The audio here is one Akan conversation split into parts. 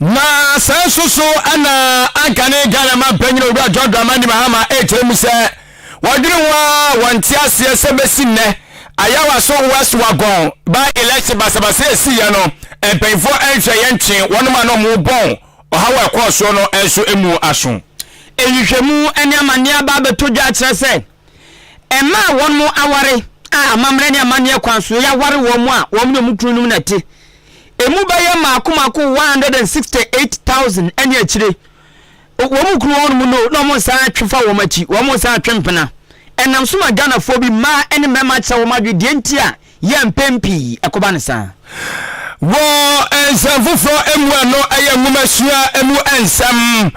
Na sɛ nso so na anka ne Ghana ma mpanyin owura John Dramani Mahama ɛkyerɛ mu sɛ wɔdwene ho a wɔnte aseɛ sɛ bɛsi nnɛ Ayawaso West Wagon by election basabasa ɛsiiɛ no mpanyinfoɔ nhwɛeɛ ntwe wɔnom a na wɔrebɔn ɔhaw a ɛkɔɔ soɔ no nso mu aso. Nhwehwɛmu ne amanneɛ aba abɛtɔ dwa akyerɛ sɛ. Mmaa a wɔn aware a amammerɛ ne amanneɛ kwan so yɛ aware wɔn a wɔn ne wɔn kununom na ɛte emu bɛyɛ mmaako mmaako 168,000 ne akyire. Wɔn kunu wɔnom no na wɔn nsa atwe fa wɔn akyi, wɔn nsa atwe mpena. Ɛnam so ma Ghanafoɔ bi mmaa ne mmarima kyerɛ wɔn adwene deɛ nti a yɛ mpɛn pii ɛkoba no saa. Wɔ nsɛm foforɔ mu a no ɛyɛ nwomasua mu nsɛm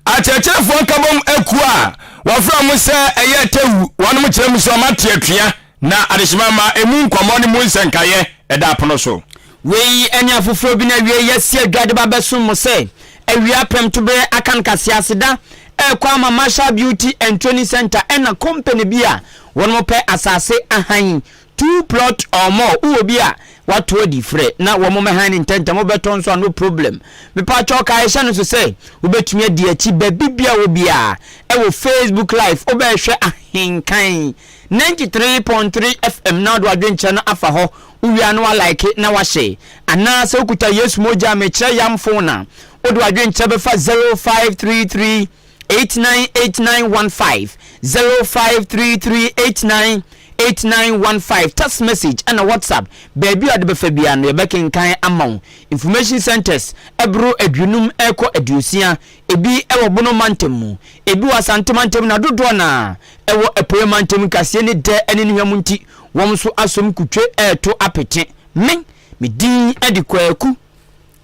akyerɛkyerɛfoɔ nkabom akuo a wɔfrɛ wɔn sɛ ɛyɛ Tewu wɔnom kyerɛ mu sɛ wɔn ate atua na adehyema ma ɛmu nkɔmmɔ ne mu nsɛnkaeɛ ɛda apono so. Wei ɛne afoforɔ bi no awiei yɛasi adwa de ba bɛsom mo sɛ awia prɛmtoberɛ akan kaseaseda ɛrekɔ ama Marshall Beauty and Training Centre ɛna company bi a wɔnom pɛ asase ahan Two plot or more wowɔ bi a wato adi frɛ na wɔn mɛhan no ntɛntɛm wobɛtɔ nso a no problem mepakyɛw ka ɛhyɛ no so sɛ wobɛtumi adi akyi baabi bia wɔ biaa ɛwɔ Facebook live wobɛɛhwɛ ahenkan 93.3 FM na wode wadwenkyerɛ no afa hɔ wowie a na wa like na wahyɛ anaa sɛ wokuta Yesu mogya mekyerɛ yam phone a wode wadwenkyerɛ bɛfa 0533 eight nine eight nine one five zero five three three eight nine eight nine one five text message ɛna whatsapp baabi a ɔde bɛfa biara no yɛbɛkenkan ama wo information centers ɛboro aduonum ɛkɔ aduosia ebi ɛwɔ bono mantam mu ebi wɔ asante mantam na dodoɔ na ɛwɔ apueɛ mantam kaseɛ ne dɛ ɛne ne hwa mu nti wɔn nso asom kutwe ɛɛto apete me medin ɛde kwaku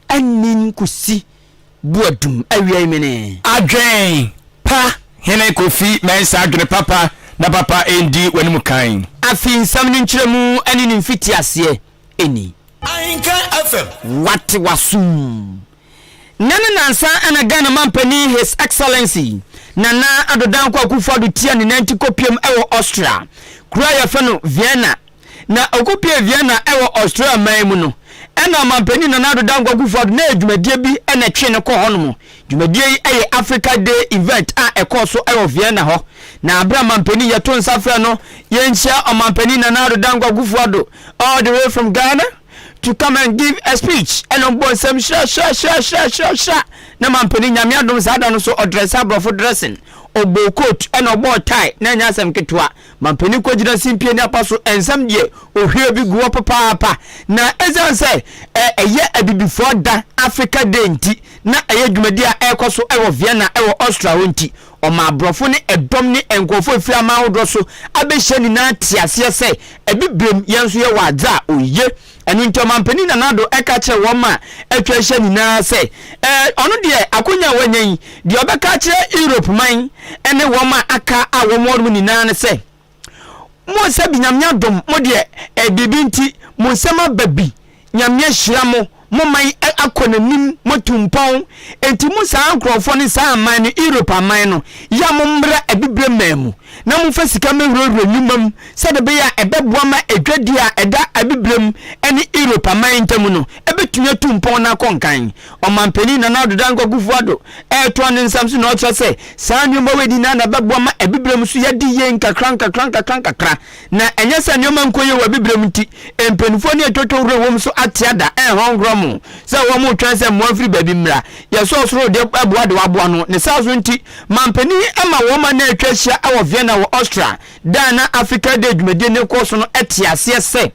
anin kusi bu adum awiai menee. Adwen pa Hene Kofi Mensah adwene papa na papa ndi w'anim kan. Afi nsɛm no nkyerɛmu ne ne mfitiaseɛ ni. Ahenka FM. Wate w'asom. Nnɛ ne nnansa na Ghana Mampanin His Excellency Nana Addo Dankwa Akufo-Addo tia ne nanti kɔpiem wɔ Austria kuro a yɛfrɛ no Vienna, Na ɔkɔpuee Vienna wɔ Austria man mu no, ɛna Ɔmanpanin Nana Addo Dankwa Kufuor na ɛyɛ dwumadie bi na ɛtwee no kɔɔ hɔnom. Dwumadie yi yɛ Africa Day event a ɛkɔɔ so wɔ Vienna hɔ. Na berɛ a Manpanin yɛto nsa frɛ no, yɛnhyia Ɔmanpanin Nana Addo Dankwa Kufuor Addo all the way from Ghana to come and give a speech ɛna ɔbɔ nsɛm hyerɛhyerɛhyerɛhyerɛhyerɛhyerɛ na Manpanin Nyame adom saa da no so ɔdrɛse aborɔfo dressing, ɔbɔɔ coat ɛna ɔbɔɔ tie na ɛnyɛ asɛm ketewa. Mampanin kɔgyina simpie ne apa so nsɛm deɛ ohwie bi gu hɔ papaapa na ɛsiane sɛ ɛyɛ abibifoɔ da, Africa Day, nti na ɛyɛ dwumadie a ɛrekɔ so wɔ Vienna wɔ Austria hɔ nti ɔmaa aborɔfo ne ɛdɔm ne nkurɔfoɔ a ɛfiri aman ahodoɔ so abɛhyia nyinaa tee aseɛ sɛ Abibirem yɛn nso yɛwɔ adze a oye Ɛno nti Ɔmanpanin Nana Addo ka kyerɛɛ wɔn a atwa ahyia nyinaa sɛ, Ɛɛ, ɔno deɛ akwanya a wanya yi, deɛ ɔbɛka akyerɛ Europe man ne wɔn a aka a wɔwɔ hɔnom nyinaa ne sɛ, Mo nsa bi, Nyame adom mo deɛ, ɛɛ, biribi nti, mo nsam aba bi, Nyame ahyira mo, mo man akɔ n'anim, moatu mpɔn, enti mo saa nkorɔfoɔ no, saa aman no, Europe aman no, yɛ a mommra Abibire man mu. na momfa sika mmɛhurahura nnwuma mu sɛdeɛ ɛbɛyɛ a ɛbɛboa ma adwadie a ɛda Abibirem ne Europe aman ntam no bɛtumi atu mpɔn na akɔ nkan. Ɔmanpanin Nana Addo Dankwa Kufuor-Addo retoa ne nsɛm so na ɔkyerɛ sɛ saa nneɛma wei nyinaa na ɛbɛboa ma Abibirem so yɛadi yie nkakrankakrankakrankakra na ɛnyɛ sɛ nneɛma nkɔ yie wɔ Abibirem nti mpanimfoɔ ne atwotwo werɛ wɔ mu so ate ada rehɔnhorɔ mo sɛ wɔretwɛn sɛ mmoa mfiri baabi mmra. Yɛsɛ ɔsoro deɛ ɛboa deɛ waboa no ne saa so nti Mampanin yi ama wɔn man a atwa ahyia wɔ Vienna wɔ Austria da a na Africa Day dwumadi no rekɔ so no te aseɛ sɛ,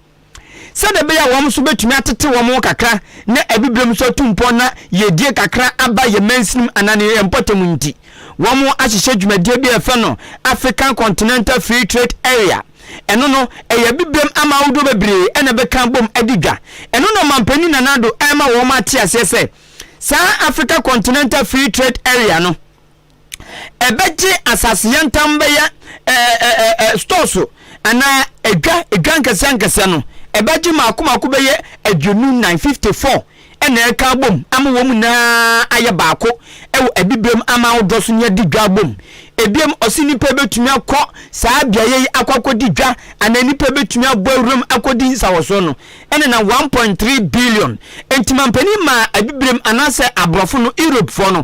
sɛdeɛ ɛbɛyɛ a wɔn nso bɛtumi atete wɔn ho kakra na Abibirem nso atu mpɔn na yiedie kakra aba yɛn mansinom anaa ne yɛn mpɔtam nti, wɔahyehyɛ dwumadie bi a yɛfrɛ no African Continental Free Trade Area. Ɛno no, ɛyɛ Abibirem aman ahodoɔ bebree na ɛbɛka abom adi dwa. Ɛno na Ɔmampanin Nana Addo rema wɔn ate aseɛ sɛ, Saa Africa Continental Free Trade Area no, ɛbɛgye asase yɛntam bɛyɛ ɛɛ ɛɛ ɛɛ stores anaa edwa edwa nkɛseɛ nkɛseɛ no ɛbɛgye mako mako bɛyɛ aduonu nan fifty four ɛna ɛka abom ama wɔn nyinaa ayɛ baako ɛwɔ abibirem ama ahodoɔ so ne adi dwa abom ebiem ɔsi nipa ebetumi akɔ saa beaeɛ yi akɔ akɔdi dwa anaa nipa ebetumi abɔ awuram akɔdi nsawɔsoɔ no ɛnenam one point three billion. Enti mampanin maa Abibirem anaasɛ Aborɔfo no, Europefoɔ no,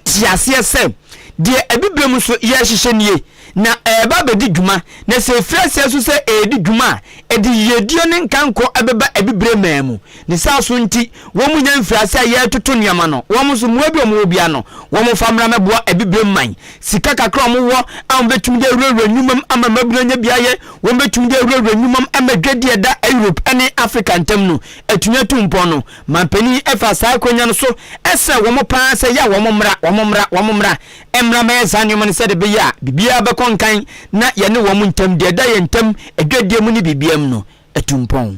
te aseɛ sɛ, deɛ Abibirem nso yɛrehyehyɛ nie, na ɛreba abɛdi dwuma, na sɛ ɛfiri aseɛ nso sɛ ɛredi dwuma a, ɛde yiedie ne nkankɔ bɛba Abibirem man mu. Ne saa so nti, wɔnnya mfiri aseɛ a yɛretoto nneɛma no. Wɔn nso, mmoa bi a wɔwɔ biara no, wɔmfa mmra mmɛboa Abibirem man Sika kakra a wɔwɔ a wɔbɛtumi de awurawura nnwuma mu ama mmabunu anya beaeɛ, wɔbɛtumi de awurawura nnwuma mu ama dwadie a ɛda Europe ne Africa ntam no atumi atu mpɔn no. Manpanin yi faa saa akwanya no so srɛɛ wɔn pa ara sɛ ɛyɛ a wɔmmra, wɔmmra, wɔmmra mmra mmɛyɛ saa nneɛma no sɛdeɛ ɛbɛyɛ a biribiara bɛkɔ nkan na yɛne wɔn ntam, deɛ ɛda yɛn ntam dwadie mu ne biribiara mu no, atu mpɔn.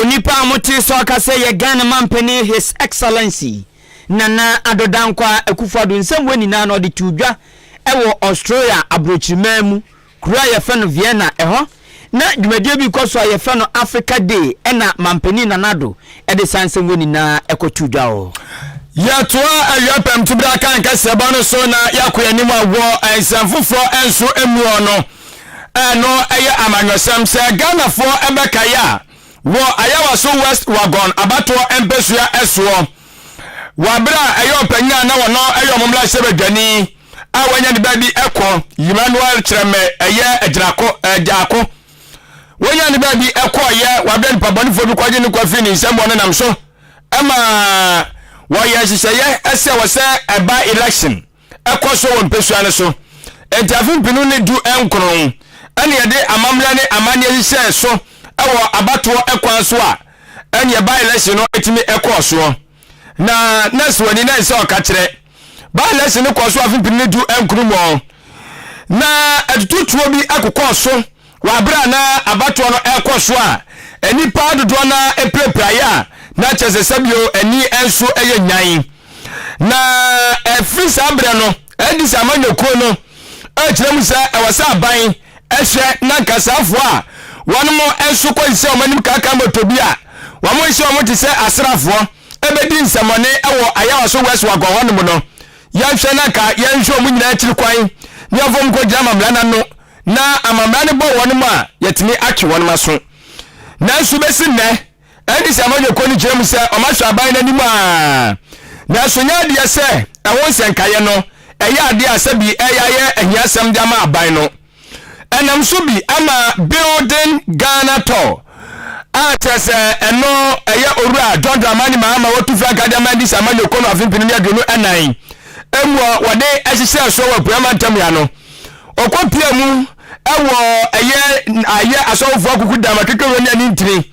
Onipa a motee sɛ ɔka sɛ yɛ Ghana manpanin His Excellency Nana Addo Dankwa Akufo-Addo nsɛm wei nyinaa no ɔde too dwa wɔ Australia aborɔkyiriman mu kuro a yɛfrɛ no Vienna ɛhɔ na dwumadie bi rekɔ so a yɛfrɛ no Africa Day ɛna manpanin Nana Addo de saa nsɛm wei nyinaa kɔ too dwa wɔ Yɛtoa awia pɛmtubere akan kɛseɛ bɔ no so na yɛakɔ yɛn anim wɔ nsɛm foforɔ nso mu wɔ no. Ɛno yɛ amanyɔsɛm sɛ Ghanafoɔ bɛkae a wɔ Ayawaso West Wagon abatoɔ mpɛsua soɔ wɔ aberɛ a ɛyɛ ɔpanyin a na wɔno yɛ wɔn mmarahyɛbadwani a wanya ne baabi kɔ Emmanuel Kyerɛmɛ ɛyɛ agyinako agyaako wɔnya ne baabi kɔɔyɛ wabrɛ nipabɔnefoɔ bi kɔgye ne kɔ firi ne nsam wɔn nenam so ma wɔyɛ nhyehyɛeɛ sɛ wɔsɛ ɛba election ɛkɔ so wɔ mpesua no so. Enti afe mpenu ne du nkron na yɛde amammerɛ ne amanneɛ hyehyɛɛ so wɔ abatoɔ kwan so a ɛneɛ by-election no tumi kɔɔ soɔ. Na Nurse Wani na ɛsɛ ɔka kyerɛ. By-election no kɔɔ so afe mpenu ne du nkron mu. Na atututuo bi akokɔɔ so Wɔ aber a na abatoɔ no rokɔ so a, nyimpa dodoɔ no ara pirapirae a na kyerɛ sɛ sɛbio ani nso yɛ nyan. Na fir saa berɛ no de sɛ amanyɔkuo no rekyerɛ mu sɛ ɛwɔ sɛ aban hwɛ na nka saafoɔ a wɔnom nso kɔgye sɛ wɔn anim kaakaa moto bi a wɔnhyɛ wɔn te sɛ asraafoɔ bɛdi nsɛmɔne wɔ Ayawaso West Wagon hɔnom no, yɛnhwɛ na nka yɛnhwɛ wɔn nyinaa akyiri kwan na yɛmfa wɔn nkɔgyina amammerɛ no ano. Na amammara no bɔ wɔnom a, yɛtumi atwe wɔnom aso. Nanso bɛsi nnɛ, NDC amanyɔkuo no gyina mu sɛ wɔasɔ aban no anim ara. Nanso nyɛ adeɛ sɛ ɛho nsɛnkaeɛ no ɛyɛ adeɛ a sɛbi ɛreyɛ ayɛ ahiasɛm de ama aban no. Ɛnam so bi ama Building Ghana Tall a kyerɛ sɛ ɛno ɛyɛ Owura John Dramani Mahama a watu frankaa de ama NDC amanyɔkuo no afe mpenu ne aduonu ɛnan mu a wɔde hyehyɛɛ soɔ wɔ Apueɛ Mantam yi ano. Ɔkɔpia mu wɔ ɛyɛ ayɛ asɔwofoɔ akuku dam akekewura ne ani ntini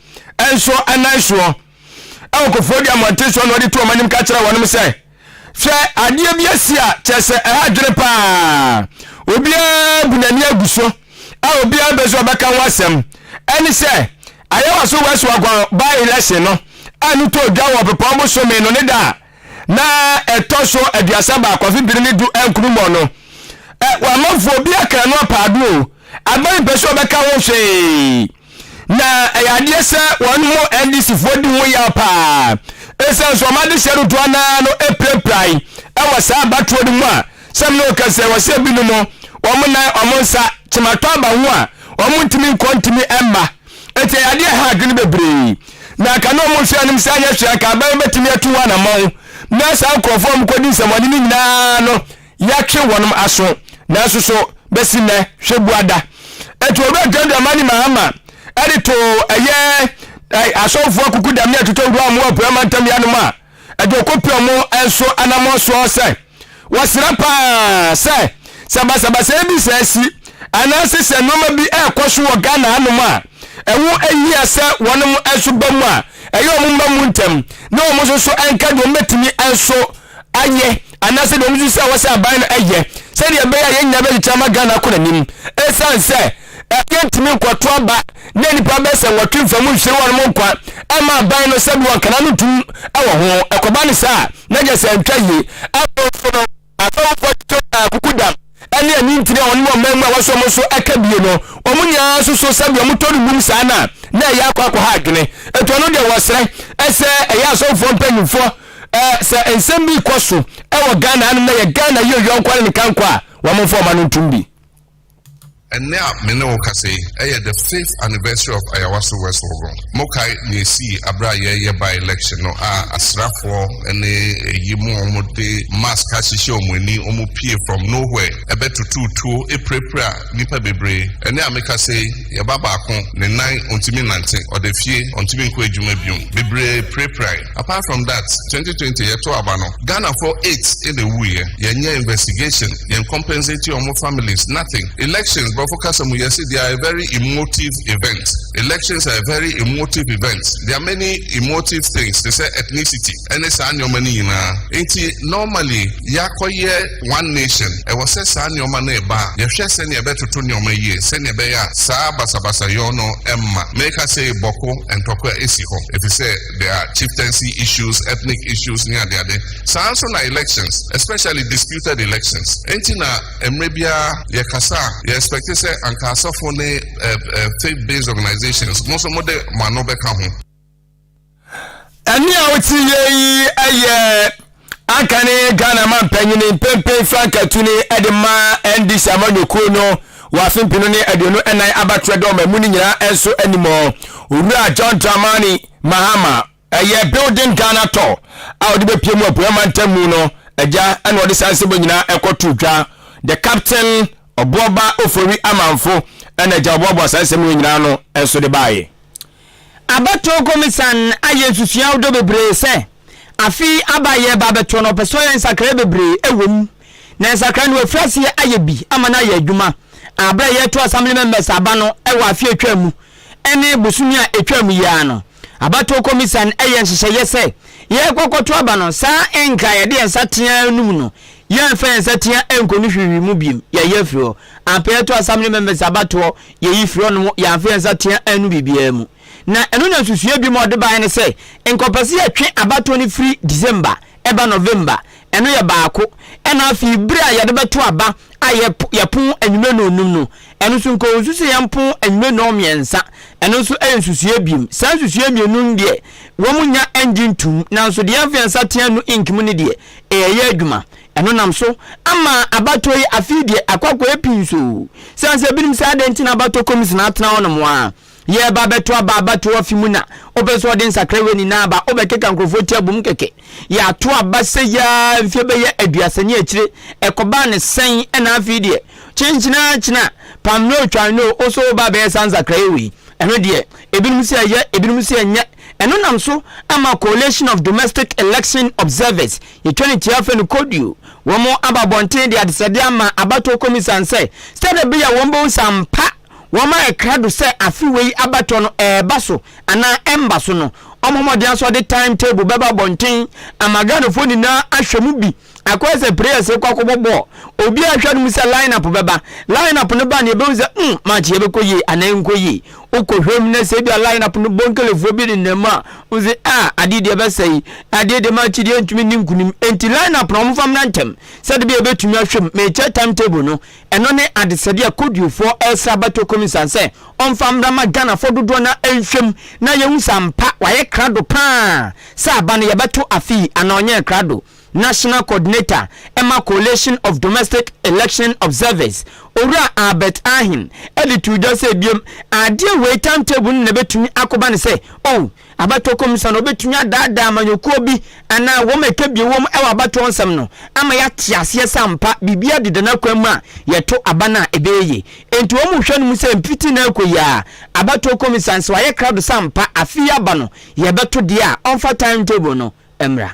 nso nan soɔ wɔ kofoɔ di amɔnten soɔ na ɔde to wɔn anim ka kyerɛ wɔnom sɛ, Hwɛ adeɛ bi asi a kyerɛ sɛ ɛha adwene paa. Obiara bu n'ani agu so a obiara mpɛ sɛ ɔbɛka ho asɛm. Ɛne sɛ Ayɛwaso West Wagon by-election no a no tɔɔ dwa wɔ Ɔpepɔn bosome no ne da a na ɛtɔ so aduasa baako afe biri ne du ɛnkunu mɔ no ɛ wamanfoɔ obi akra no apaado o aban mpɛ sɛ ɔbɛka ho hwee na ɛyɛ adeɛ sɛ wɔn mo ndc foɔ di ho yaw paa ɛsiane sɛ wɔn adehyɛ dodoɔ naa no apirapirai ɛwɔ saa abatoɔ no mu a sɛm ne ɔka sɛ wɔsɛ binom wɔn nan wɔn nsa kyematɔ aba ho a wɔn ntumi nkɔ ntumi ɛmma Enti ɛyɛ adeɛ a ɛha adwene bebree. Na anka na wɔn nsuanom nsa nyɛ hwee, anka aban bɛtumi atu ho anamɔn na saa nkorɔfoɔ a wɔkɔdi nsɛmmɔne no nyinaa no yɛatwe wɔn aso. Nanso so bɛsi nnɛ hwɛ bua da. Enti Owura John Dramani Mahama de too ɛyɛ asɔfoɔ akukudam ne atotɔwuram wɔ Apueɛ Mantam yanom a, Ɛde ɔkɔpira mu nso anammɔn soɔ sɛ wɔsrɛ pa ara sɛ sɛ basabasayɛ bi sɛ asi anaase sɛ nnoɔma bi ɛrekɔ so wɔ Ghana hanom a ɛho hia sɛ wɔnom nso ba mu a ɛyɛ wɔn mma mu ntɛm na wɔn nso so nka deɛ wɔbɛtumi nso ayɛ anaasɛ deɛ wɔn nso sɛ wɔsɛ aban no ɛyɛ sɛdeɛ ɛbɛyɛ a yɛn nyinaa bɛkyekyɛ ama Ghana akɔ n'anim ɛsiane sɛ Ɛkwan ntumi nkɔto aba na nnipa bɛyɛ sɛ nwɔtwe mfa mu nhyere wɔnom nkwa mma aban no sɛdeɛ wɔn kana no tom wɔ ho. Ɛkɔba no saa a, na gye sɛ antwa yie. Afei nso no, asɔfofoɔ titire taa kuku dam ne anintini a wɔnom wɔ man mu a wɔaso wɔn so ka bie no. Wɔn nyinaa nso so sɛ deɛ wɔtɔ no mmum saa no a, na ɛyɛ akɔ akɔha adwene. Enti ɔno deɛ wɔsrɛ sɛ ɛyɛ asɔfofoɔ mpanimfoɔ sɛ nsɛm bi rekɔ so wɔ Ghana hanom na yɛ Ghana yɛ oyiankɔ ne ne kankɔ a, wɔmfa wɔn ano ntom bi. Ɛnnɛ a me ne wo kasa yi, ɛyɛ the fifth anniversary of Ayawaso West Wogo. Mokae nea esii bere a yɛreyɛ by-election no a asrafoɔ ne eyi mu a wɔde mask ahyehyɛ wɔn ani, wɔpue from nowhere bɛtotoo tuo pirapiraa nnipa bebree. Ɛnnɛ a mekasa yi, yɛn ba baako, ne nan, ontumi nnante, ɔda fie, ontumi nkɔ adwuma bio. Bebree pirapirae. Apart from that, twenty twenty yɛ to aba no, Ghana foɔ eight na ɛwui ɛ, yɛ nyɛ investigation, yɛn compensate ɔmo families, nothing. Elections, brɔfo kasa mu yɛ se they are a very emotive event, elections are a very emotive event, there are many emotive things te sɛ ethnicity ɛne saa nneɛma no nyinaa, nti normally yɛakɔ yɛ one nation, ɛwɔ sɛ saa nneɛma no reba a yɛhwɛ sɛnea ɛbɛtoto nneɛma yie sɛnea ɛbɛyɛ a saa basabasayɔ no mma, meka sei bɔko ntɔkwa si hɔ, ɛfiri sɛ. There are chieftaincy issues, ethnic issues ne adeade. Saa ara nso na elections, especially disputed elections. Enti na mmerɛ biara yɛkasa a, yɛ expect sɛ anka asɔfo ne faith based organizations mo nso mode mo ano bɛka ho. Ɛnne a wote yei yɛ Anka ne Ghana mampanyini Mpempen Frank Atuni de mma NDC amanyɔkuo no wɔ afe mpenu ne aduonu nnan abatoɛ dɔm amu no nyinaa nso anim hɔ, Owura John Dramani Mahama. Ɛyɛ Building Ghana Tour a ɔde bɛpue mu Apueɛ Mantam mu no agya na ɔde saa nsɛm wei nyinaa ɛkɔtoo dwa. The Captain Ɔboɔba Ofori Amanfo na agya ɔboaboa saa nsɛm wei nyinaa ano nso de baeɛ. Abatoɔ Komisan ayɛ nsusuaw dɔ bebree sɛ. Afe yi aba a yɛreba abɛto no, ɔpɛ sɛ ɔyɛ nsakrae bebree wɔ mu, na nsakrae no wafiri aseɛ ayɛ bi ama no ayɛ adwuma. Aberɛ a yɛreto Assembly Members aba no wɔ afe a ɛtwaa mu ne bosome a ɛtwaa mu yi ara no, abatoɔ kɔmisian yɛɛ nhyehyɛeɛ sɛ yɛrekɔ akɔto aba no saa nka a yɛde yɛn nsa teaa anum no, yɛremfa yɛn nsa teaa ankɔ no hwirihwiri mu bio, yɛayi afiri hɔ. Ampa yɛto Assembly Members abatoɔ, yɛyi firi hɔnom, yɛamfa yɛn nsa teaa annu biribiara mu. Na ɛno na nsusuiɛ bi ma ɔde baeɛ ne sɛ, nkɔpɛse a ɛtwe abatoɔ no firi December ba November, ɛno yɛ baako, ɛna afei berɛ a yɛde bɛto aba a yɛpo yɛpon anwummerɛ nnɔnnum no, ɛno nso nka ɔnsu sɛ yɛmpon anwummerɛ nnɔnmiɛnsa, ɛno nso yɛ nsusuiɛ biom. Saa nsusuiɛ mmienu no deɛ, wɔn nnya ngye ntom, nanso deɛ yɛmfa yɛn nsa atea no ink mu no deɛ, ɛɛyɛ adwuma. Ɛno nam so ama abatoɔ yi afei deɛ akɔ akɔyɛ pii nso, sane sɛ binom sɛ adɛn nti na abatɔ kɔmisina atena hɔnom ara, Yɛreba abɛto aba abatoɔ afe mu na wopɛ sɛ ɔde nsakra wei nyinaa aba wobɛkeka nkurɔfoɔ ti abom kɛkɛ yɛato aba sɛ yaa mfie bɛyɛ aduasa ne akyire ɛkɔbaa ne sɛn ɛna afei deɛ kyenkyena kyena pam no twan no wo so woba bɛyɛ saa nsakraeɛ wei ɛno deɛ ebinom sɛ ɛyɛ ebinom sɛ ɛnyɛ ɛno nam so ama coalition of domestic election observers yɛtwa ne tia afɛ no koduo wɔn aba abɔnten de adesɛdeɛ ama abatoɔ komisan sɛ sɛdeɛ bɛyɛ wɔn bɛhu sɛ ampa Wɔma ɛkra do sɛ afe wei abatoɔ no ɛɛba so anaa ɛmba so no, ɔmɔ mmɔden asɔ de time table bɛba abɔnten ama Ghanafoɔ nyinaa ahwɛ mu bi. Akɔyɛ sɛ prayers rekɔ akɔbɔ bɔɔl, obiara hwɛ no mu sɛ line up bɛba. Line up no ba no yɛbɛhu sɛ mm match yi ɛbɛkɔ yie anaa ɛrenkɔ yie. Wokɔ hwɛ mu na sɛ ebia line up no bɔ Nkelefoɔ bi nenam mu a, wohu sɛ ah adeɛ deɛ ɛbɛsɛe yi, adeɛ deɛ match yi deɛ ɛntumi nni nkunim. Enti line up no wɔmfa mmra ntɛm sɛdeɛ ɛbɛyɛ a yɛbɛtumi ahwɛ mu. Mekyerɛ time table no. Ɛno ne adesɛdeɛ a Kodiofoɔ resrɛ abatoɔ Komisan sɛ ɔmfa mmra ma Ghanafoɔ dodoɔ no ara nhwɛ mu na yɛhu sɛ ampa wayɛ krado pa ara sɛ aba no yɛbɛto afe yi anaa ɔnyɛɛ krado. National Coordinator ma Coalition of Domestic Election Observers, Owura Albert Ahing de too dwa sɛ biom adeɛ wei timetable no na ɛbɛtumi akoba no sɛ oh, Abatoɔ kɔmisa no bɛtumi adaadaa amanyɔkuo bi anaa wɔn a ɛka bio wɔm wɔ abatoɔ nsɛm no ama yɛate aseɛ sɛ ampa biribiara deda n'akwan mu a yɛto aba no a ɛbɛyɛ yie. Enti wɔn hwɛ no mu sɛ mfiti na ɛkɔ yi ara abatoɔ kɔmisa no sɛ wayɛ krado sɛ ampa afe yi aba no yɛbɛto deɛ a ɔmfa time table no mmra.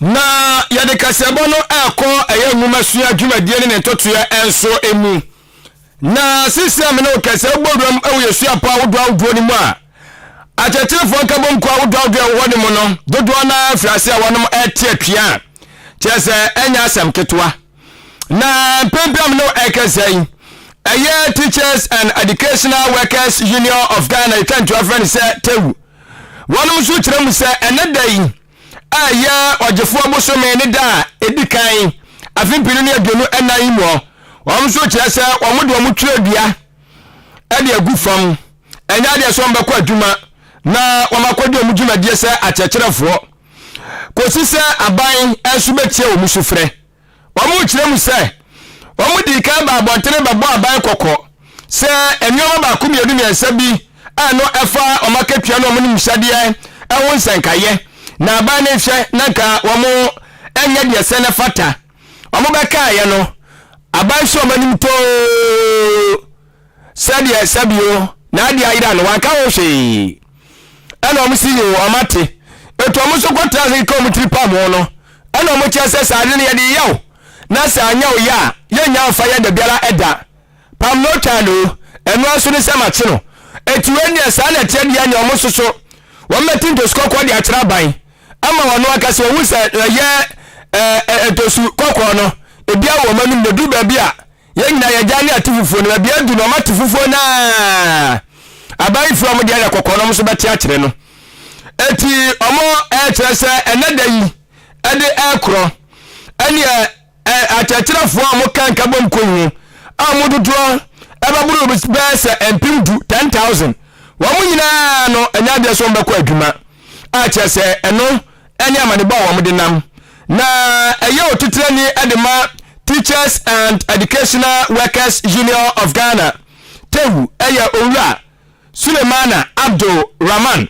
Na yɛde kaseɛbɔ no ɛkɔ ɛyɛ nwomasua dwumadie ne ne ntotoeɛ nso mu. Na sisi a me ne wo kɛsɛ wobɔ wuram wɔ yɛ suapɔ ahodoɔ ahodoɔ no mu a, akyerɛkyerɛfoɔ nkabom kɔ ahodoɔ ahodoɔ ɛwɔ hɔ no mu no, dodoɔ no ara firi ase a wɔnom ɛte atua a, kyerɛ sɛ ɛnyɛ asɛm ketewa. Na mpɛn bi a me ne wo ɛkasa yi, ɛyɛ Teachers and Educational Workers Union of Ghana, yɛtwa ntoa frɛ no sɛ TEWU. Wɔnom nso kyerɛ mu sɛ ɛnɛ da yi a ɛyɛ ɔgyefoɔ bosome ne da a ɛdi kan afe mpenu ne aduonu ɛnan yi mu, wɔn nso kyerɛ sɛ wɔn de wɔn twerɛdua ɛde agu fam, ɛnyɛ adeɛ sɛ wɔn bɛkɔ adwuma na wɔn akɔdi wɔn dwumadie sɛ akyerɛkyerɛfoɔ. kɔsi sɛ aban nso bɛtie wɔn sufrɛ. Wɔkyerɛ mu sɛ, wɔdii kan baa abɔntene bɛbɔɔ aban kɔkɔ sɛ nneɛma baako mmienu mmiɛnsa bi a ɛno ɛfa wɔn akatua ne wɔn nimhyɛdeɛ ɛho nsɛnkaeɛ na aban no nhwɛ na nka wɔn ɛnyɛ deɛ sɛ no ɛfata. Wɔbɛkaeɛ no, aban hyɛ wɔn anim too. Sɛdeɛ ɛsɛ bio, na ade ayera no, wanka ho hwee. Ɛna wɔn se, Yoo, wɔn ate. Etu wɔn so kɔtena ase keka wɔn tiri pam ho no, ɛna wɔn kyerɛ sɛ, Saa ade no yɛde yɛ wo, na sɛ anyɛ wo yɛ a, yɛnnya mfa yɛ da biara ɛda. Pam no twa no, ɛno ara nso ne sɛ makye no. Enti wei deɛ, saa na ɛteɛ deɛ nea wɔn so so, wɔn bɛte ntosu kɔkɔɔ de akyerɛ aban, ama wɔn ankasa wɔahu sɛ ɛyɛ ntosu kɔkɔɔ no, ebiara wɔ wɔn anom, na ɛduru baabi a, Yɛn nyinaa yɛ agya ne ate fufuo no ma bia du no ɔma te fufuo no aa aban yi firi ɔmo deɛ yɛ kɔkɔɔ no ɔmo nso bɛte akyerɛ no eti ɔmo ɛɛkyerɛ sɛ ɛnɛ da yi ɛde ɛɛkorɔ ɛneɛ ɛ akyerɛkyerɛfoɔ a ɔmo ka nkabom kɔ yi ho a ɔmo dodoɔ ɛbɛboro bɛɛ sɛ mpem du 10,000 wɔn nyinaa no ɛnyɛ adeɛ sɛ ɔmo bɛkɔ adwuma a kyerɛ sɛ ɛno ne amanebɔ a wɔde nam, na ɛyɛ otitrani de ma Teachers and Educational Workers Union of Ghana, TEWU, yɛ Owura Sulemana Abdul Rahman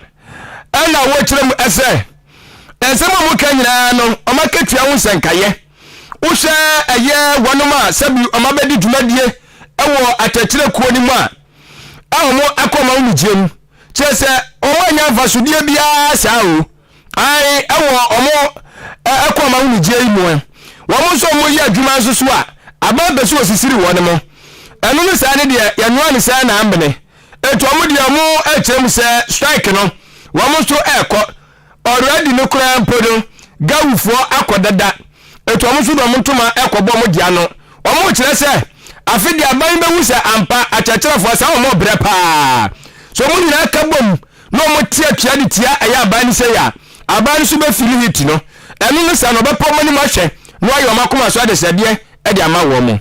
na wɔkyerɛ mu sɛ, nsɛm a wɔka nyinaa no, wɔn akatua ho nsɛnkaeɛ. Wohwɛ ɛyɛ wɔnom a sɛbi wɔn abɛdi dwumadie wɔ atɛkyerɛ kuo no mu a, a wɔakɔ ma wɔmegyeɛ mu kyerɛ sɛ wɔn anya mfasodeɛ biara saa o ae ɛwɔ wɔn ɛkɔ ma wɔmegyeɛ yi mu ɛ wɔn nso wɔn yɛ adwuma nso so a aban pɛ sɛ ɔsisiri wɔn mo ɛno no saa ne deɛ yɛnwoa ne saa na amene ɛtu wɔn deɛ wɔn ɛkyerɛ mu sɛ strike no wɔn nso ɛkɔ Already no koraa mpo no Gawu foɔ akɔ dada ɛti ɔmo nso de ɔmo ntoma ɛkɔ bɔ ɔmo de ano ɔmo rekyerɛ sɛ afe deɛ aban bɛhu sɛ ampa akyerɛkyerɛfoɔ saa ɔmo brɛ paa sɛ ɔmo nyinaa ka bom na ɔmo te atua de tia ɛyɛ aban no sei a aban no nso bɛ fili heat no ɛno no saa na ɔbɛpa ɔmo anim ahwɛ na wayɛ ɔmo akoma so adesrɛdeɛ de ama wɔn.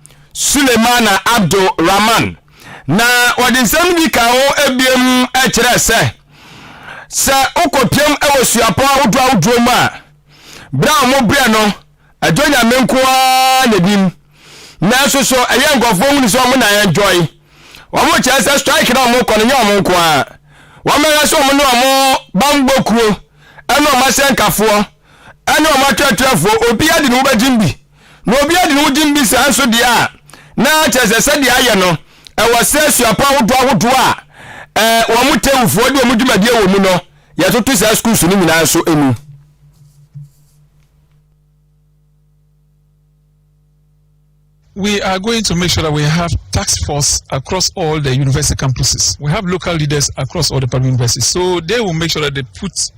Sulemana Abdul Rahman, na wɔde nsɛm no bi kaa ho abiem kyerɛɛ sɛ, Sɛ wokɔpiam wɔ suapɔn ahodoɔ ahodoɔ mu a, berɛ a wɔbrɛ no, ɛdɔ Nyame nko ara na ɛnim. Nanso so ɛyɛ nkurɔfoɔ hunu sɛ wɔn na ɛndɔe? Wɔkyerɛ sɛ strike na wɔkɔ no nyɛ wɔn nko ara. Wɔmmɛhwɛ sɛ wɔn ne wɔn bammɔ kuo ne wɔn asɛnkafoɔ ne wɔn atwerɛtwerɛfoɔ obiara de ne ho bɛgyem bi. Na obi adi ne ho gyim bi saa nso deɛ a, na kyerɛ sɛ sɛdeɛ ayɛ no, ɛwɔ sɛ asuapɔn ahodoɔ ahodoɔ a eh, wɔn tewfoɔ de wɔn dwumadie wɔ mu no, yɛtoto saa sukuus no nyinaa nso mu. We are going to make sure that we have task force across all the university campuses. We have local leaders across all the public universities. So they will make sure that they put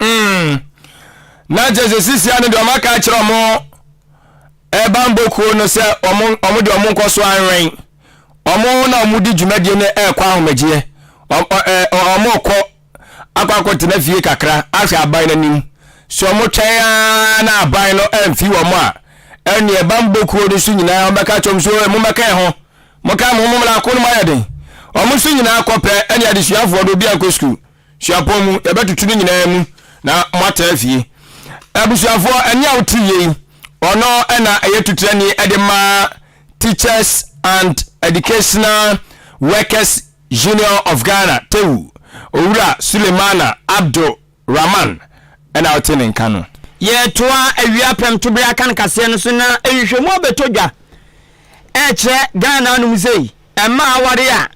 Mm. Na kyerɛ sɛ sisia no deɛ ɔma ka kyerɛ ɔmo ɛbanbɔ kuo no sɛ ɔmo ɔmo deɛ ɔmo nkɔ so anwɛn ɔmo na ɔmo di dwumadie no ɛɛkɔ ahomegyeɛ ɔmo kɔ akɔ akɔtena fie kakra ahwɛ aban no anim sɛ ɔmo twɛn ara na aban no ɛmfi wɔn a ɛne ɛbanbɔ kuo no so nyinaa ɔmɛka kyɛm so ɛmo mɛka ɛho mo ka mo mo mla ko no mo ayɛ den ɔmo so nyinaa kɔpɛ ɛne adesuafoɔ no obi ankɔ sukuu Suapɔn mu, yɛbɛtoto ne nyinaa mu na moatra afie. Abusuafoɔ, ɛnne a wote yie yi, ɔno na ɛyɛ tutrani de ma Teachers and Educational Workers Union of Ghana, TEWU. Owura Sulemana Abdu Rahman na ɔte ne nka no. Yɛretoa awia pɛmtoberɛ akankaseɛ no so na nhwehwɛmu abɛtɔ dwa ɛrekyerɛ Ghana anom sei. Mmaa a wɔaware a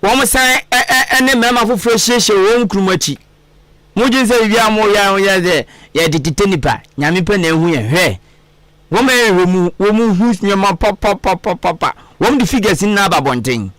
wɔsan ne mmarima foforɔ ahyiahyia wɔn kurom akyi. Mogye sɛ biribi a moyɛ a wɔyɛ sɛ yɛde tete nipa, nyame pɛ na ehu yɛ hwɛ. Wɔn bɛyɛ hwɛ mu, wɔn hu nneɛma papapapapa. Wɔn de figures nyinaa ba abɔnten.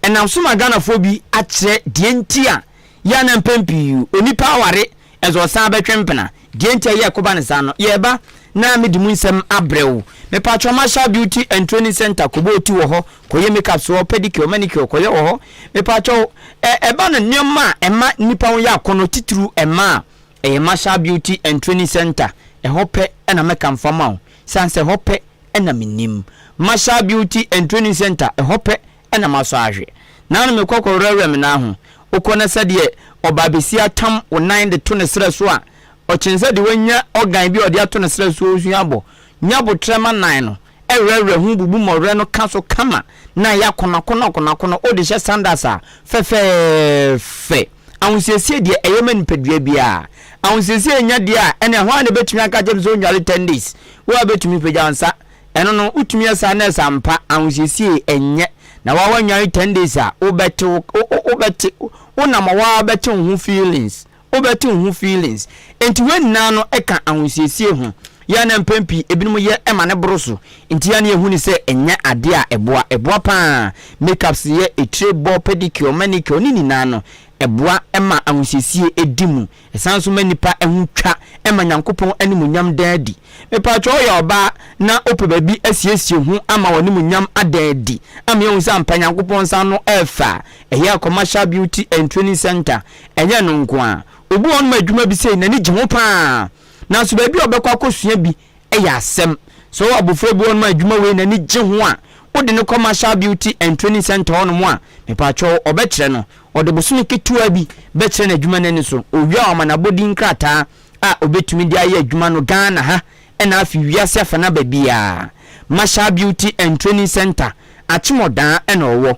Ɛnam so ma Ghanafoɔ bi akyerɛ deɛ nti a Yɛ a na mpɛn pii onipa aware dze ɔsan bɛtwe mpena. Deɛ nti a yɛ ko ba no saa no, yɛ ba na me de mu nsɛm abrɛ wo. Me patrɔ ma hyɛ beauty and training center kɔ bɔ oti wɔ hɔ, kɔ yɛ make up so hɔ, pedicure, manicure kɔ yɛ wɔ hɔ. Me patrɔ wo, ɛ, ɛba no nneɛma a ɛma nnipa ho yɛ akɔnɔ titiriw ɛma a, ɛyɛ ma hyɛ beauty and training center. Ɛhɔ pɛ na mɛka mfa ma wo. San sɛ ɛhɔ pɛ na me nim. Ma hyɛ beauty and training center, ɛhɔ pɛ na masɔ ahwe. Naanom me kɔkɔ werɛwerɛ me nan ho. Wokɔ na sɛdeɛ ɔbaabasia tam wo nan de to ne serɛ so a, ɔkyene sɛ deɛ wanya ɔgan bi a ɔde ato ne serɛ so osu abɔ. Nya aboterɛ ma nan no, ɛwerɛwerɛ ho, bubu mmɔwerɛ no ka so kama na ayɛ akonoakonoakonoakono. Wode hyɛ sandals a, fɛfɛɛfɛ. Ahosiesie deɛ ɛyɛ ma nipadua biara. Ahosiesie nnya deɛ a, ɛnneɛ hwan na ɛbɛtumi aka akyerɛ me sɛ ɔnnware ten days? Wo ara bɛtumi, pagya wo nsa. Ɛno no wotumi yɛ saa nurse ampa ahosiesie ɛnyɛ na waa wanwan ten days a wobɛte wo wobɛte wo nam a waa bɛte wo ho feelings wobɛte wo ho feelings nti wei nyinaa no ɛka ahosiesie ho yɛ a na mpɛn pii ebinom yɛ ɛma ne boro so nti yɛ a na yɛhu ne sɛ ɛnyɛ adeɛ a ɛboa ɛboa paa makeups yɛ etire bɔ pedicure manicure ne nyinaa no ɛboa ɛma ahosiesie edi mu Ɛsan nso ma nnipa ho twa ma Nyankopɔn animuonyam da adi. Mepaatwɔ woyɛ ɔbaa na wopɛ baabi asiesie ho ama w'animuonyam ada adi ama yɛahu sɛ ampa Nyankopɔn nsa ano ɛfɛ a, ɛyɛ Commercial Beauty and Training Centre. Ɛnyɛ ɛno nko ara, obi wɔ hɔ nom a adwuma bi sei n'ani gye ho paa nanso baabi a ɔbɛkɔ akɔsua bi Ɛyɛ asɛm. Sɛ ɔwɔ abofra bi hɔnom a adwuma wei n'ani gye ho a, wode no kɔ Marshall Beauty and Training Centre hɔnom a, mepakyɛw ɔbɛkyerɛ no. Ɔde bosome ketewaa bi bɛkyerɛ no adwuma no ani so. Owie a wɔama no abɔdin nkrataa a obetumi de ayɛ adwuma no Ghana ha na afei wiase afanaba biara. Marshall Beauty and Training Centre, Akyem Odaa na ɔwɔ.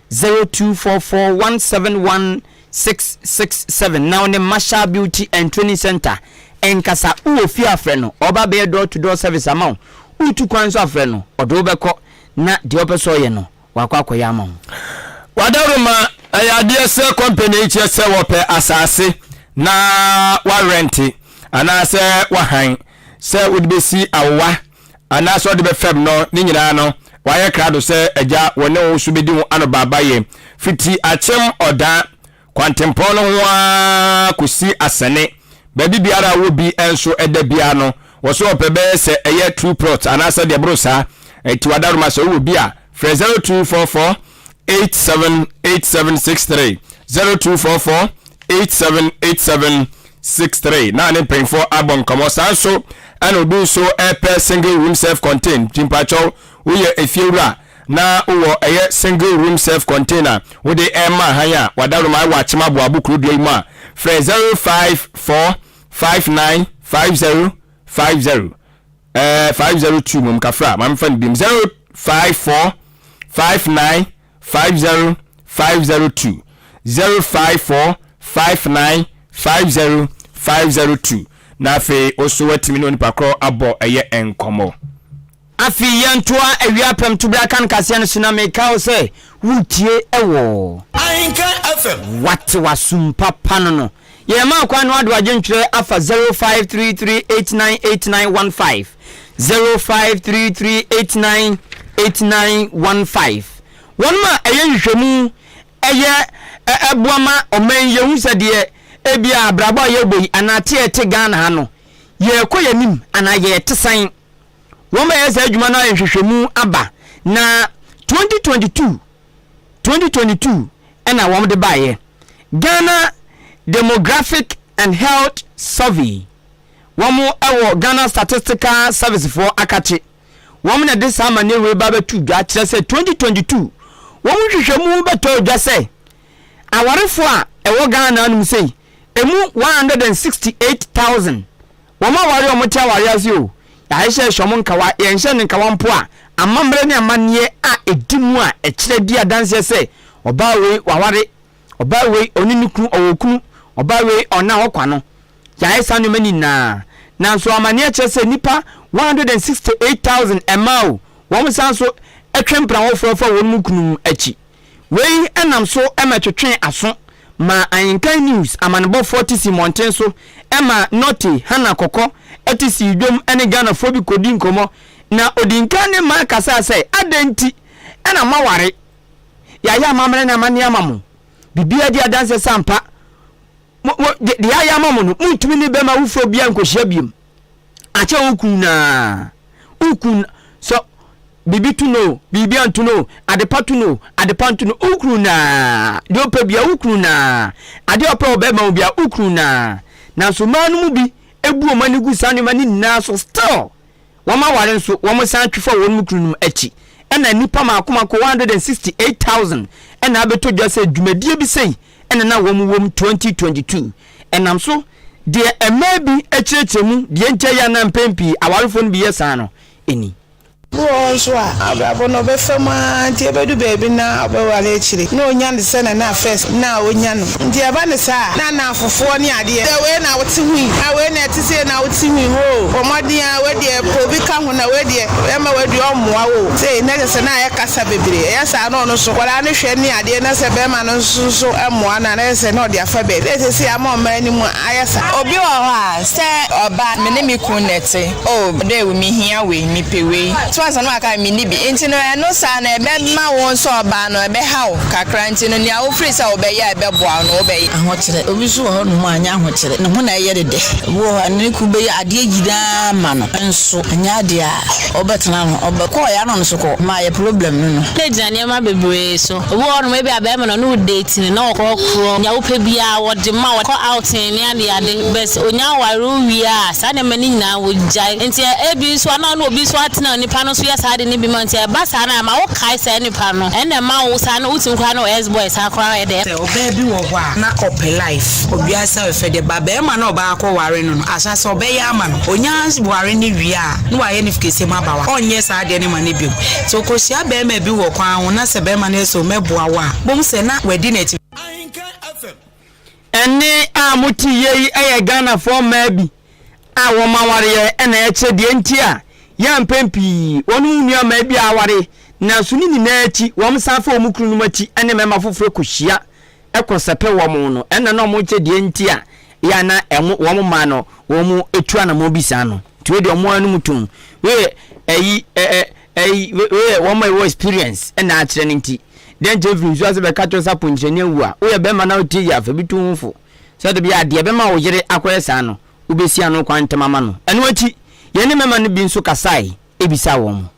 Zero two four four one seven one six six seven na wo ne Marshall Beauty and Training Centre nkasa. Wowɔ fie a, frɛ no. Ɔba bɛyɛ door to door service ama wo. Wotu kwan nso a, frɛ no. Ɔde wo bɛkɔ na deɛ ɔpɛ sɛ ɔyɛ no, wakɔ akɔyɛ ama wo. Wadaroma, Ɛyɛ adeɛ sɛ kɔmpani kyerɛ sɛ wɔpɛ asaase na wɔarɛnte anaasɛ wɔahan sɛ wode bɛsi awowa. anaasɛ ɔde bɛfam no, ne nyinaa no, wayɛ krado sɛ Agya, wɔ ne wo so bɛdi ho anobaabayɛ, firi ti akyem ɔdaa, kwantempɔn no ho ara kɔsi asɛne, baabi biara a wɔ bi nso da biara no, wɔ so ɔpɛ bɛyɛ sɛ ɛyɛ true plot anaasɛ deɛ ɛboro saa, enti w'adaworoma sɛ wowɔ bi a, frɛ 0244. 878763 0244 878763 na ne mpanyinfoɔ abɔ nkɔmɔ saa nso ɛna obi nso ɛpɛ single room self contained timpakyɛw woyɛ efiewura na wowɔ ɛyɛ single room self contained a wode ɛma han a wadaroma ɛwɔ akyem aboabo kuro dua yi mu a frɛ 0545950550 Ɛɛ five zero two mom kafra maame fa no biom zero five four five nine five zero five zero two zero five four five nine five zero five zero two na afei oso watumi ne onipa korɔ abɔ ɛyɛ nkɔmɔ. Afei yɛntoa awia apɛm to bra kan kaseɛ no so na meka wo sɛ wotie ɛwɔ. Ahenka FM. Wate w'asum papa no no. Yɛma kwan no ado adwentwerɛ afa zero five three three eight nine eight nine one five, zero five three three eight nine eight nine one five. Wɔnom a ɛyɛ nhwehwɛmu ɛyɛ ɛ ɛboa ma ɔman yi yɛhu sɛ deɛ ebia abrabɔ a yɛbɔ yi anaa te a ɛte Ghana ha no yɛrekɔ yɛn anim anaa yɛrete sɛn. Wɔn bɛyɛ saa adwuma no ayɛ nhwehwɛmu aba na twenty twenty two. twenty twenty two na wɔde baeɛ, Ghana Demographic and Health Survey, wɔn wɔ Ghana Statistical Service foɔ akakye, wɔn na ɛde saa amaneɛ wei ba bɛto dwa kyerɛ sɛ twenty twenty two wɔn nhwehwɛmu bɛtɔ dwa sɛ awarefoɔ a ɛwɔ Ghana nom sei, ɛmu one hundred and sixty eight thousand. Wɔn aware a wɔte aware ase o, yɛahyehyɛ ahyɛ wɔn nkawa, yɛnhyɛ no nkawa mpo a, amammerɛ ne amanneɛ a ɛdi mu a ɛkyerɛ di adanseɛ sɛ, ɔbaa wei waware, ɔbaa wei ɔne ne kunu ɔwɔ kunu, ɔbaa wei ɔnna hɔ kwa no. Yɛayɛ saa nneɛma no nyinaa. Nanso amanneɛ kyerɛ sɛ nnipa 168,000 mmaa o, wɔn san nso twe mpena wɔfoɔ fa wɔn kunu akyi. Wei nam so ma ɛtwetwee aso maa Ahintan News amanebɔfoɔ te sii mmɔnten so ma Norte, Hannah Kɔkɔ, te sii dwom ne Ghanafoɔ bi kɔdii nkɔmmɔ na ɔdii nkan ne mmaa kasaa sɛ, Adɛn nti na moaware? Yɛayɛ amammerɛ ne amanneɛ ama mo. Biribiara di adanseɛ sɛ ampa mo, mo, deɛ yɛayɛ ama mo no, montumi ne bɛrima awofoɔ biara nkɔhyia biom, akyɛ wo kunu no ara. Wokunu no, sɛ biribi to no o, biribi anto no o, adepa to no o, adepa nto no, wokunu no a, deɛ ɔpɛ bia wokunu no a, adeɛ a ɔpɛ ɔbɛma wo bia wokunu no a. Nanso mmaa no mu bi bu wɔn ani gu saa nneɛma no nyinaa so still wɔn aware nso wɔn san twe fa wɔn kunu nom akyi ɛna nnipa mako mako 168000 ɛna abɛtɔ dwa sɛ dwumadie bi sei ɛna na wɔn wɔm 2022 ɛnam so Deɛ mmaa bi kyerɛkyerɛ mu deɛ enti a ɛyɛ a na mpɛn pii awarefoɔ no bi yɛ saa no ni. Ebi wɔ hɔ nso a, na abrabɔ no ɔbɛfa mu ara nti ɛbɛdu baabi no na ɔbɛware akyire na ɔnya no sɛdeɛ na first na ɔnya no nti ɛba no saa a na nnamfofoɔ ne adeɛ sɛ wei na wote ho yi na wei na ɛte sei na wote ho yi hoo bɔ mmɔden ara wei deɛ pɛ obi ka ho na wei deɛ ɛma wei deɛ ɔmmoa wo sei na kyerɛ sɛ na ayɛ kasa bebree ɛyɛ saa na ɔno nso nkwadaa no hwɛ ne adeɛ na sɛ barima no nso nso mmoa no a na kyerɛ sɛ na ɔde afa baabi na seesei ama ɔman no mu ayɛ fɛ. Obi wɔ hɔ a, sɛ ɔba a, me ne me kunu na ɛte. O, dɛw, mihia wei, mepɛ wei. So ansa na waka no, minni bi. Enti no, ɛno saa no, ɛbɛma wo nso ɔbaa no, ɛbɛha wo kakra. Enti no, nea wofii sɛ wobɛyɛ a ɛbɛboa wo no, wobɛyɛ. Ahokyerɛ. Obi nso wɔ hɔnom a, ɛnyɛ ahokyerɛ. Ne ho na ɛyɛ no dɛ. Obi wɔ hɔ a, ne kunu bɛyɛ adeɛ nyinaa ama no, nso ɛnyɛ adeɛ a ɔbɛtena ano. Ɔbɛkɔ a, ɔyɛ ano-ano so kɔ. Ɛma ayɛ problem no no. Ɛgyina nneɛma bebree so. Obi wɔ hɔnom a ebia barima na ɔne wo date no, na wɔkorɔkorɔ nea wopɛ biara, wɔde ma, wɔkɔ outing ne adeade, but onya aware wowie a, saa nneɛma no nyinaa wogyae. Enti ebi nso a na wo ne obi nso atena a nipa no nso yɛ saa ade no bi ma wo nti, ɛba saa no a, ɛma wokae saa nipa no, ɛnna ɛma wo saa no wotumi koraa ne wo ex boy saa koraa yɛ dɛ. Sɛ ɔbaa bi wɔ hɔ a, na ɔpɛ life, obiasa bɛfɛ deɛ, but barima no a ɔbaa akɔware no no, ahyɛase ɔbɛyɛ ama no, onya ware no wie a, na wayɛ no kɛseɛ mu aba wa ɔnyɛ saa adeɛ no ma no biom nti ɔkɔhyia bɛrima bi wɔ kwan ho na sɛ bɛrima no sɛ ɔmɛboa wo a bomu sɛ na wadi n'akyi Ɛnne a mote yie yi yɛ Ghanafoɔ mmaa bi a wɔn awareɛ na ɛkyɛ deɛ nti a yɛ a mpɛn pii wɔne wɔn nuammaa bi aware nanso ne nyinaa akyi wɔsan fa wɔn kununom akyi ne mmarima foforɔ kɔhyia kɔ sɛpɛ wɔn no, ɛna na wɔn kyɛ deɛ nti a yɛ a na ɛho wɔn mmaa no wɔn tu anamɔn bi saa no. Nti wei deɛ wɔn ara no mu tom. Wei yɛ ɛyi ɛ ɛ ɛyi wei yɛ wɔn a ɛwɔ experience ɛna akyerɛ no nti. Deɛ nti efiri nsuo ase bɛka kyerɛ sɛ akɔnkyerɛni awu a, woyɛ bɛrima na wotie yɛ a fa bi tu ho fo. Sɛ de bia deɛ ɛbɛma wo yere akɔyɛ saa no, wobɛsi ano kwan ntɛm ama no. Ɛno akyi, yɛne mmarima no bi nso kasae bisaa wɔn.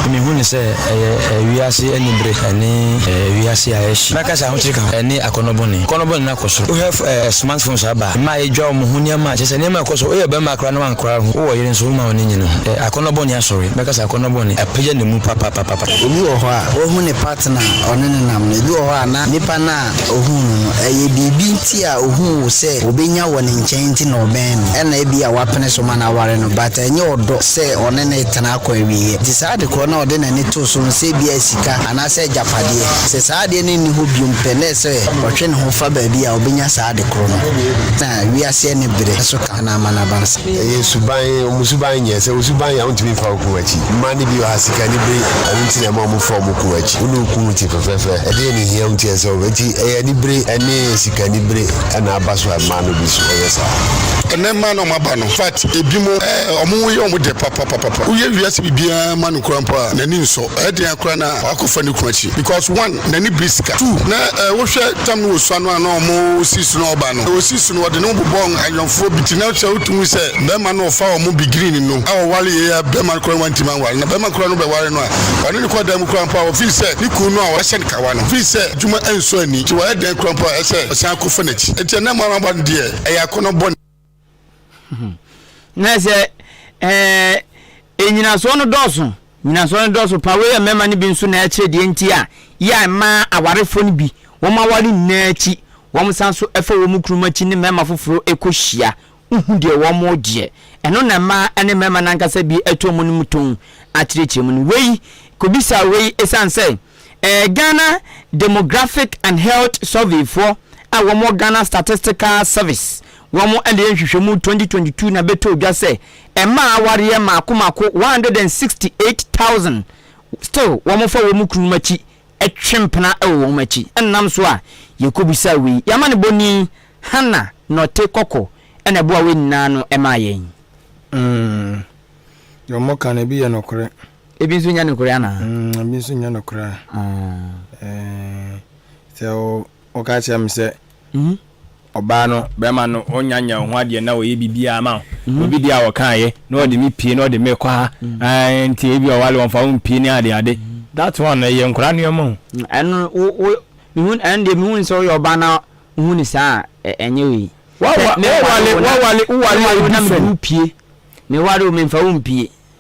Mihu no sɛ ɛyɛ wiase anibere ne wiase a ɛhye. Mɛka sɛ ahokyere ka ho ne akɔnnɔ bɔne. Akɔnnɔ bɔne no akɔ so. Wohwɛ smartphones a aba a, mmaa yedwira wɔn ho, nneɛma a kyerɛ sɛ nneɛma a ɛkɔ so. Woyɛ barima koraa na woankora wo ho, wowɔ ɔyere nso womma w'ani nnye ne ho. Akɔnnɔ bɔne asɔre. Mɛka sɛ akɔnnɔ bɔne apagya ne mu papapapapa. Ebi wɔ hɔ a, wahu ne partner a ɔne no nam no. Ebi wɔ hɔ a, na nipa no a ohuu no no, ɛyɛ biribi nti a ohuu wo sɛ obenya wɔ ne nkyɛn nti na ɔbɛn no. Ɛna ebia wapene so ma no aware no, but ɛnyɛ ɔdɔ sɛ ɔne no retena. kɔ awieeɛ. Enti saa adekorɔ no a ɔde n'ani too so no, sɛ ebia ɛyɛ sika anaasɛ agyapadeɛ, sɛ saa adeɛ no nni hɔ bio pɛ, na ɛyɛ sɛ ɔtwe ne ho fa baabi a ɔbɛnya saa adekorɔ no, na wiase aniberɛ nso ka ho na ama no aba nsa. Ɛyɛ suban, wɔn suban nyɛ sɛ wo suban yɛ a wontumi mfa wo kun akyi. Mmaa no bi wɔ ha, sika ne bere, ɛno nti na ɛma wɔfa wɔn kun akyi. Wo ne wo kunu te fɛfɛɛfɛ, ɛdeɛn na ɛhia wo nti a ɛsɛ sɛ wo. Enti ɛyɛ anibere ne sika anibere na aba so a mmaa no bi nso yɛ saa. Ɛnnɛ mmaa no a wɔaba no, in fact, ebinom, wɔyɛ wɔn dɛ papa. papapapapa woyɛ wiase biribiaa ma no koraa mpo a n'ani nsɔ ɛyɛ den akoraa na wakɔ fa ne kunu akyi because one n'ani bere sika two na eh wo hwɛ tam no wɔ sua no a na ɔmo si so na ɔba no wɔ si so no ɔde ne ho bobɔ ayɔnfoɔ bi ti na kyɛ wotu hu sɛ bɛɛma no ɔfa ɔmo beginning no a ɔware yɛ a bɛɛma no koraa wantimi anware na bɛɛma koraa no bɛ ware no a ɔne ne kɔ dan mu koraa mpo a ɔfii sɛ ne kunu no a wahyɛ no kawa no fii sɛ adwuma ɛnsɔ ani nti wayɛ den koraa mpo a ɛsɛ ɔsan akɔ fa n'akyi nti ɛnɛ mmaa no aba no deɛ ɛyɛ akɔnɔ bɔne. na sɛ ɛɛ nnyinasoɔ no dɔɔso nnyinasoɔ no dɔɔso pa wei yɛ mmarima no bi nso na ɛkyerɛ deɛ nti a yɛ a mmaa awarefoɔ no bi wɔn aware nyinaa akyi wɔn san so ɛfa wɔn kurom akyi ne mmarima foforɔ ɛkɔhyia wohu deɛ wɔn gyeɛ ɛno na mmaa ne mmarima no ankasa bi ɛto wɔn no mu tɔn akyerɛkyerɛ mu no wei kɔbisa wei ɛsiane sɛ Ghana Demographic and Health Surveyfoɔ a wɔn wɔ Ghana Statistical Service wɔn na yɛ nhwehwɛmu 2022 na bɛtɔɔ dwa sɛ mmaa awareɛ mmaako mmaako 168,000 still wɔn fa wɔn kununom akyi twe mpena wɔ wɔn akyi ɛnam so a yɛkɔbisaa wei yɛama ne bɔni Hana Nɔte Kɔkɔ ɛna ɛboa wei nyinaa no ɛmaa yɛn. Mm. Deɛ wɔka no ebi yɛ nokorɛ. Ebi nso nyɛ nokorɛ anaa? Mm, ebi nso nyɛ nokorɛ a. Ah. Eh, sɛ woka kyerɛ me sɛ mhm. ɔbaa no bɛrima no ɔnya nya ho adeɛ na ɔyɛ biribiara ma mhm. obi deɛ a wɔkaeɛ na ɔde me pie na ɔde me kɔ ha mhm. nti ebi ɔwale wɔmfa wo mpie ne ade ade that one ɛyɛ nkora nneɛma o ɛno wo wo mehu ɛno deɛ mehu sɛ woyɛ ɔbaa na wohu ne saa a ɛnyɛ wei wawale wawale wawale obi fɛ na mede wo pie meware o memfa wo mpie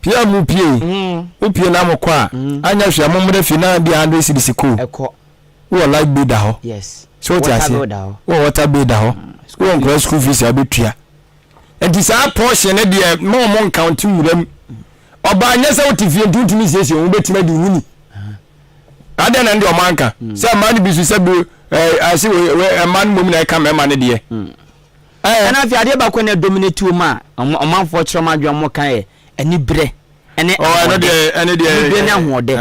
Pie a mo pie yi, mo pie na mo kɔ a, anyɛ hwee a mo mmra fie na ebia hundred cedis ko. Wo wɔ light bill da hɔ. So wote aseɛ? Wo wɔ water bill da hɔ. Wo wɔ nkɔla school fees a wobɛtua. Nti saa portion no deɛ ma ɔmo nkaunte nwura mu. Ɔbaa nyɛ sɛ wote fie nti wontumi nsiesie ho, wobɛtumi adi wo ni. Adɛn na ne deɛ ɔmo anka? Sɛ mmaa no bi so sɛ bi ɛɛ ase wɔ ɛɛ mmaa no mmom na ɛka mmarima no deɛ. Ɛna afei adeɛ baako a na ɛdominate wɔn a ɔmanfoɔ kyerɛ wɔn adwene a wɔka yɛ aniberɛ ne ahoɔden. Aniberɛ ne ahoɔdɛ.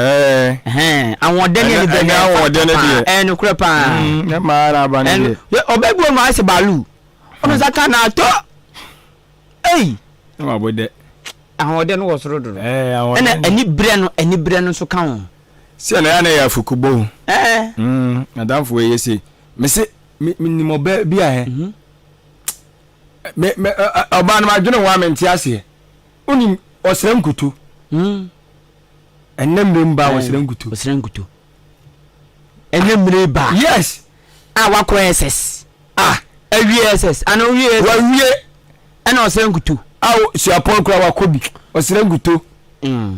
Ahoɔdɛ ne aniberɛ ne ahoɔdɛ ne deɛ. Ɛɛ nokorɛ paa. Ne maa na aba ne deɛ. Ɔbɛ bi wɔn mu ayɛ sɛ baalu. Ɔno nsa ka na atɔ. Ei. Ne ma bɔ dɛ. Ahoɔdɛ no wɔ soro dodo. Ɛna aniberɛ no aniberɛ no nso ka ho. Sɛ na yɛ na yɛ afuku bɔ. Ɛɛ. Adamfo yɛ se. Mese Me me nim ɔbaa bi a ɛ. Mhm. Me me ɛ, ɛ, ɔbaa no ma dwene ho a me nte aseɛ. Wonim ɔsrɛ nkutu. Hmm. Ɛnɛ mmerɛ mu baa ɔsrɛ nkutu. Ɔsrɛ nkutu. Ɛnɛ mmerɛ yi baa. Yes. A wakɔ SS. Ah. Awie SS. Ana owie SS. Wawie. Ɛna ɔsrɛ nkutu. Ao suapɔn kura wakɔ bi. Ɔsrɛ nkutu. Hmm.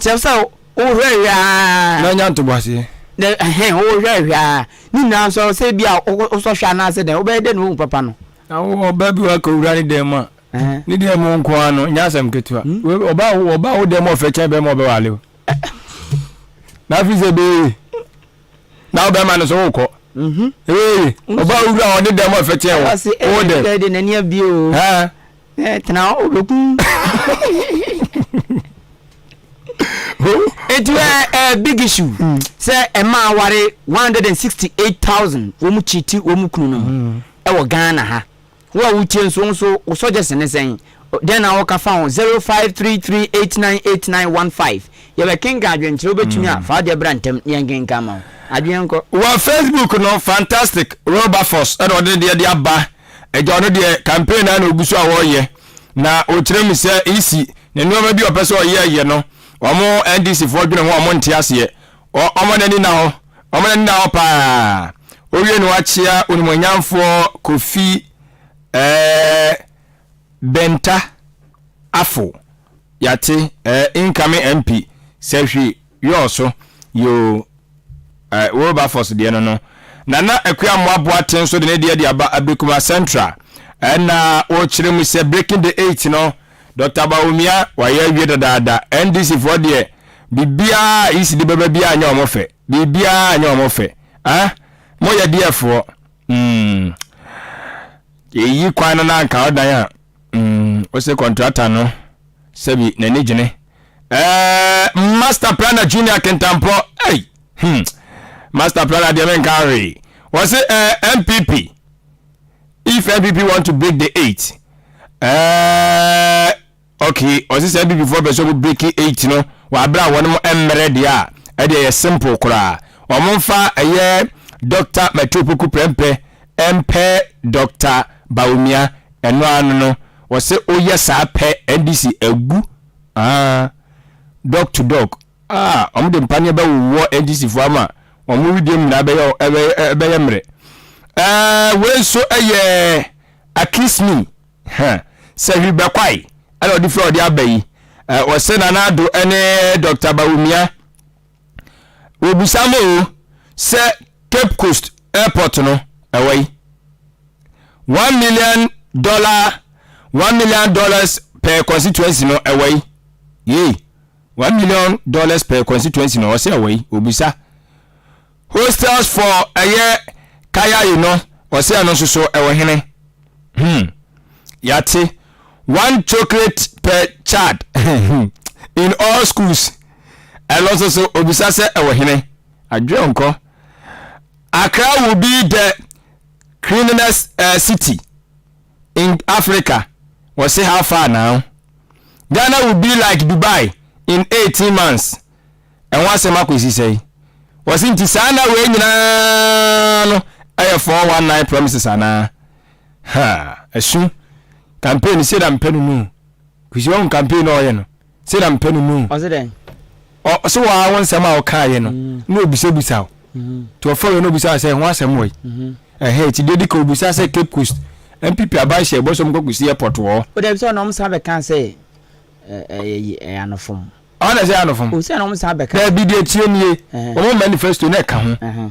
Kyerɛ sɛ wohwɛhwɛ ara. Na anya ntoboaseɛ. Na ɛhɛn wohwɛhwɛ ara. Ne nyinaa nso sɛ ebi a wosɔ hwɛ anaasɛ dɛn wobɛyɛ dɛn na woahu papa no. Na wo ɔbaa bi wɔ akɔwura ne dan mu a, ne dan mu nko ara no, nyɛ asɛm ketewa. Ɔbaa ɔbaa wo dan mu ɔfɛ kyɛn bɛrima ɔbɛwale o. Na afei sɛ ɛbɛyɛ yie. Na wo bɛrima no so wokɔ. Ɛbɛyɛ yie. Ɔbaa wura ɔde dan mu ɔfɛ kyɛn wo. Wo dɛm. Ɛde n'ani abie o. Ẹ tena hɔ obekun. Eti ẹ ẹ big issue hmm. sẹ ẹ ma aware one hundred and sixty eight thousand wɔn mu kyiti wɔn mu kunu no ɛwɔ hmm. Ghana ha. Wo a wotie nso nso wo suggestion ne sɛn? Dɛn na wɔka fa ho zero five three three eight nine eight nine one five. Yɛbɛ kenka adwenkyerɛ wobɛtumi a hmm. fa adeɛ bra ntɛm ne yɛn kenka ma wo. Adwene nkɔ. Wɔ Facebook no fantastic Wilberforce ɛna ɔde deɛ de aba. Agya ɔno deɛ campaign naa na ogu so a wɔreyɛ na ɔkyerɛ mu sɛ EC ne nneɛma bi a ɔpɛ sɛ ɔyɛ yɛ no wɔn NDC foɔ dwene ho a wɔn nte aseɛ wɔn ani nna hɔ wɔn ani nna hɔ paa owie na wakyea onimonyamfoɔ Kofi ɛɛ Benta Afo yate ɛɛ incoming MP sɛ hwee. Yoo so yoo eh Wilberforce deɛ no no Nana Akua Amoah Boateng nso de ne deɛ de aba Abrikuma Central ɛna wɔkyerɛ mu sɛ breaking the eight no Doctor Bawumia wayɛ awie dadaada NDC foɔ deɛ biribiara a Isi de bɛba biara nyɛ wɔn fɛ biribiara nyɛ wɔn fɛ ah moyɛ deɛ foɔ mm eyi kwan no na anka ɔdan a. Mm, ose kɔntrata no sɛbi n'ani gyene. Ɛɛ, Master Planner Junior Kentampɔ, ei, hmm, Master Planner deɛ menka hwee. Wɔse ɛɛ, eh, MPP, if MPP want to break the eight, ɛɛ, okay, wɔse sɛ MPP foɔ pɛ sɛ wɔn break eight no, wɔ abere a wɔn mmerɛ deɛ a, ɛdeɛ yɛ simple koraa. Wɔn mfa ɛyɛ Dr. Matthew Poku Prɛmpɛ mpɛ Dr. Bawumia Ɛno ara no no wɔse woyɛ saa pɛ NDC agu aah Dɔk to dɔk aah wɔn de mpaneɛ bɛwowɔ NDC foɔ ama wɔn wedeɛm nyinaa ɛbɛyɛ ɛbɛyɛ mmerɛ aah wei nso yɛ akismi huh sɛ hwi bɛkwae ɛna ɔde firi a ɔde aba yi wɔse Nana Addo ne Dɔkta Bawumia Wɔbisa me o sɛ Cape Coast airport no ɛwɔ yi. One million dollar one million dollars per constituency no ɛwɔ yi. Yei one million dollars per constituency no ɔsɛ ɛwɔ yi obisa. Hostels for ɛyɛ kaya yi no ɔsɛ ɛno nso so ɛwɔ hene. Hmm. Yate one chocolate per child in all schools. Ɛno nso so obisa sɛ ɛwɔ hene? Adwene nkɔ. Accra will be the cleanliness uh, city in Africa. Wɔse how far now? Ghana will be like Dubai in 18 months. Ɛho asɛm akɔsi sɛe? Wɔse nti saa na wei nyinaa no ɛyɛ 419 promises anaa? Ha, ɛso. Campaign sɛ da mpɛ no no. Kusi wɔn campaign na ɔyɛ no. Sei na mepɛ no no. Ɔse dɛn? Ɔse wo ara wo nsɛm a wokaeɛ no na ɔbisabisa wo. Nti ɔfrɛ wei na ɔbisa wo sɛ ho asɛm wɔ yi. Ɛhɛn nti deɛ ɛdika ɔbisa sɛ Cape Coast NPP aban hyɛ bɔ sɛ ɔmkɔ kɔsi airport wɔ hɔ. Odabi sɛ ɔno ɔmsan bɛka sɛ ɛyɛ anofom. Ɔno na ɛsɛ ɛyɛ anofom? Ose na ɔmsan bɛka. Dabi deɛ tie nie, wɔn manifesto na ɛka ho.